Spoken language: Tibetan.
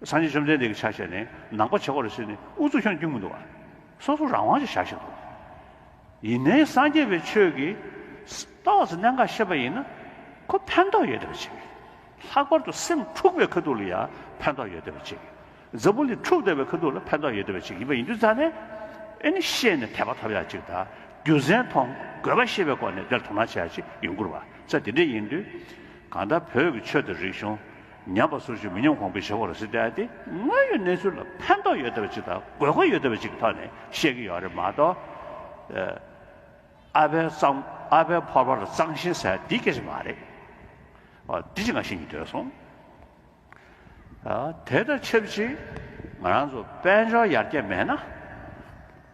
སངས་རྒྱས་བཅོམ་ལྡན་འདས་ཀྱི་ཕྱག་བཞེས་ནི་ནང་པ་བྱེ་བ་རུ་ཕྱེ་ནས་དབུ་གཙུག་ཁྱོན་བརྒྱུད་མུན་དུ་བ། སོ་སོ་རང་དབང་ཅེས་བྱ་ཞིང་དུ་བ། ཡིན་ནའི་སངས་རྒྱས་པའི་ཆོས་ཀྱི། རྟོགས་ཟིན་གནད་འགག་ཤེས་པ་ཡིན་ན། ཁོ་ཕན་འདོགས་ཡོད་བདེ་བར་བྱེད། ལྷག་པར་དུ་སེམས་འཁྲུགས་པའི་ཁ་ཐུག་ལ་ཡང་ཕན་འདོགས་ཡོད་བདེ་བར་བྱེད། འཛམ་བུ་གླིང་འཁྲུགས་བདེ་བའི་ཁ་ཐུག་ལ་ཕན་འདོགས་ཡོད་བདེ་བར་བྱེད་ཡིན་པ་ཡིན་དུས་རྩ་ནས། ཨེ་ནི་ཤེས་ནས་དད་པ་ཐོབ་ཡག་ཅིག་དང་རྒྱུ་མཚན་མཐོང་དགོས་པ་ཤེས་པའི་སྒོ་ནས་དེར་དོ་སྣང་བྱ་ཡག་ཅིག་ཡོང་ཁུར་བ་ཚད་དེ་འདྲས་ཡིན་དུས། གང་ལྟར་བོད་ཀྱི་ཆོས་དང་རིག་གཞུང། ཉམས་པ་སོ་སོའི་མི་ཉམས་གོང་འཕེལ་བྱེད་པར་སྲིད་དེ་ཨཱ་དངོས་ཡོད་གནས་ཚུལ་ལ་ཕན་ཐོགས་ཡོད་བདེ་བ་ཅིག་དང་དགོས་མཁོ་ཡོད་བདེ་བ་ཅིག་གི་ཐོག་ནས་བཤད་ཀྱི་ཡོད་རེད་མ་གཏོགས། ཨ་ཕའི་གཙང་ཨ་ཕའི་ཕོར་པ་ལ་གཙང་ཞེན་ཟེར་བ་འདི་སྐད་ཅིག་མ་རེད། འདི་ཅི་ང་ཤེས་ཀྱི་འདོད་སོང། དེ་དང་ཆབས་ཅིག་ང་རང་ཚོ་དཔལ་འབྱོར་ཡར་རྒྱས་མེད་ན།